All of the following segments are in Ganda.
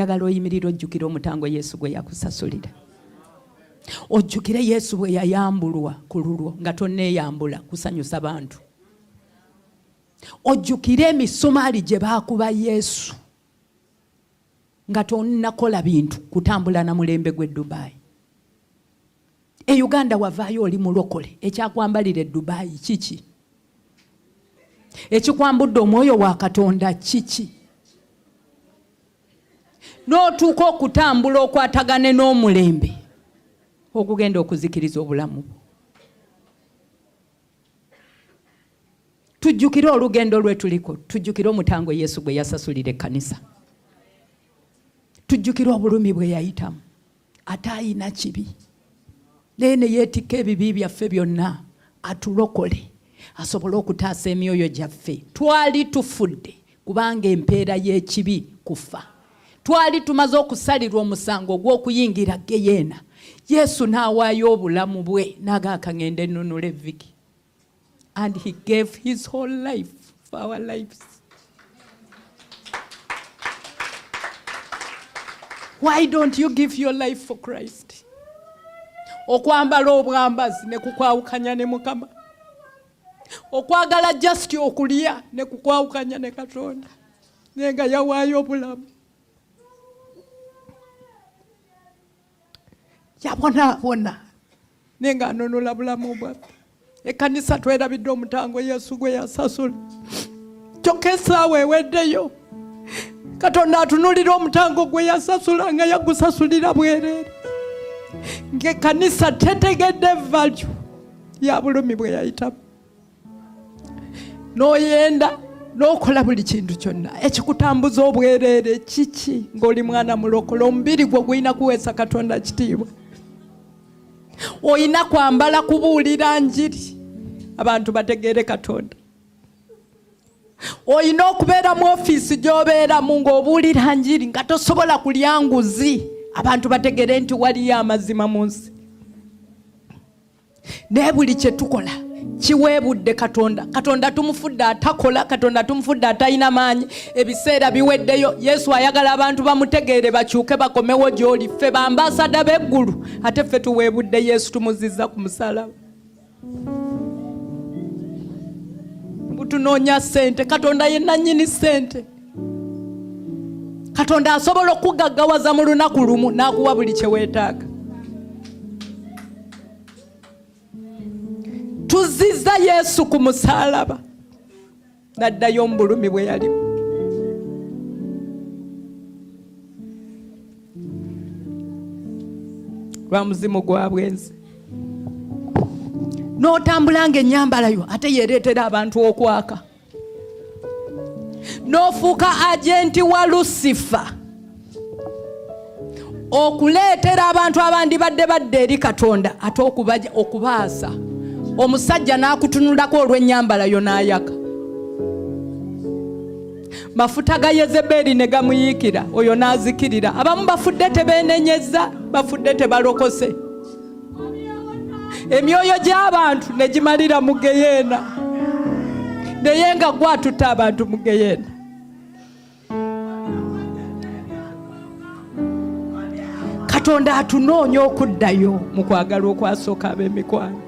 njagala oyimirira ojjukire omutango yesu gwe yakusasulira ojjukire yesu bwe yayambulwa ku lulwo nga tonneeyambula kusanyusa bantu ojjukire emisumaali gye baakuba yesu nga tonakola bintu kutambula na mulembe gw'e dubaayi e uganda wavaayo oli mulokole ekyakwambalira edubayi kiki ekikwambudde omwoyo wa katonda kiki n'otuuka okutambula okwatagane n'omulembe ogugenda okuzikiriza obulamu bwo tujjukire olugendo lwetuliko tujjukire omutango yesu gwe yasasulira ekkanisa tujjukire obulumi bwe yayitamu ate ayina kibi naye neyeetikka ebibi byaffe byonna atulokole asobole okutaasa emyoyo gyaffe twali tufudde kubanga empeera y'ekibi kufa twali tumaze okusalirwa omusango ogw'okuyingira geyeena yesu n'awaayo obulamu bwe nagaakangenda ennunula evviki and he gave his whole life for our lives. Why don't you give your life for Christ? Okwambala obwambazi ne kukwawukanya ne Mukama. Okwagala just okulya ne kukwawukanya ne Katonda. Nenga yawaayo obulamu. yabonaabona naye nga anunula bulamu bwaffe ekanisa twerabidde omutango yesu gwe yasasula kyokka esaawa eweddeyo katonda atunulira omutango gwe yasasula nga yagusasulira bwereere ngaekanisa tetegedde valyu ya bulumi bwe yayitamu n'oyenda n'okola buli kintu kyonna ekikutambuza obwereere kiki ng'oli mwana mulokola omubiri gwo gulina kuweesa katonda kitiibwa olina kwambala kubuulira njiri abantu bategeere katonda olina okubeera mu ofiisi gy'obeeramu ng'obuulira njiri nga tosobola kulya nguzi abantu bategeere nti waliyo amazima mu nsi naye buli kyetukola kiweebudde katonda katonda tumufudde atakola katonda tumufudde atalina maanyi ebiseera biweddeyo yesu ayagala abantu bamutegeere bakyuke bakomewo gyoli ffe bambaasada b'eggulu ate ffe tuweebudde yesu tumuzizza ku musalaba butunoonya ssente katonda ye nannyini ssente katonda asobola okugaggawaza mu lunaku lumu n'akuwa buli kye weetaaga tuzizza yesu ku musaalaba n'addayo omubulumi bwe yalimu lwa muzimu gwa bwenzi n'otambula ng'ennyambala yo ate yeereetera abantu okwaka n'ofuuka agenti wa lusifa okuleetera abantu abandibadde badde eri katonda ate okubaja okubaasa omusajja n'akutunulako olw'ennyambala yo n'ayaka mafuta ga yezebeeri ne gamuyiikira oyo n'azikirira abamu bafudde tebeenenyezza bafudde tebalokose emyoyo gy'abantu ne gimalira mu geyeena naye nga gwatuta abantu mu geyeena katonda atunoonya okuddayo mu kwagala okwasooka ab'emikwano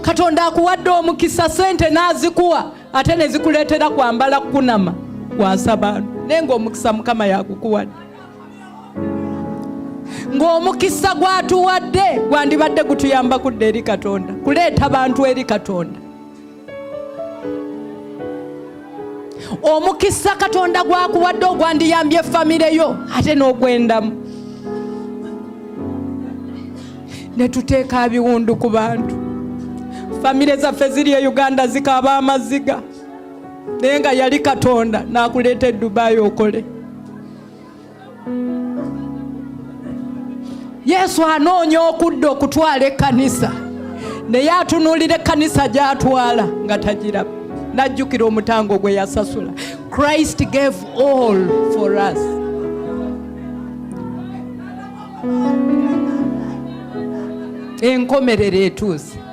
katonda akuwadde omukisa sente n'azikuwa ate ne zikuleetera kwambala kukunama kwasa bantu naye ngaomukisa mukama yagukuwadde ng'omukisa gwatuwadde gwandibadde gutuyamba kudda eri katonda kuleeta bantu eri katonda omukisa katonda gwakuwadde ogwandiyambye efamire yo ate n'ogwendamu ne tuteeka biwundu ku bantu famire zaffe ziri e uganda zikaaba amaziga naye nga yali katonda nakuleeta edubayi okole yesu anoonya okudda okutwala ekkanisa naye atunuulira ekkanisa gyatwala nga tagiraba najjukira omutango gwe yasasula christ gave all for us enkomerero etuuse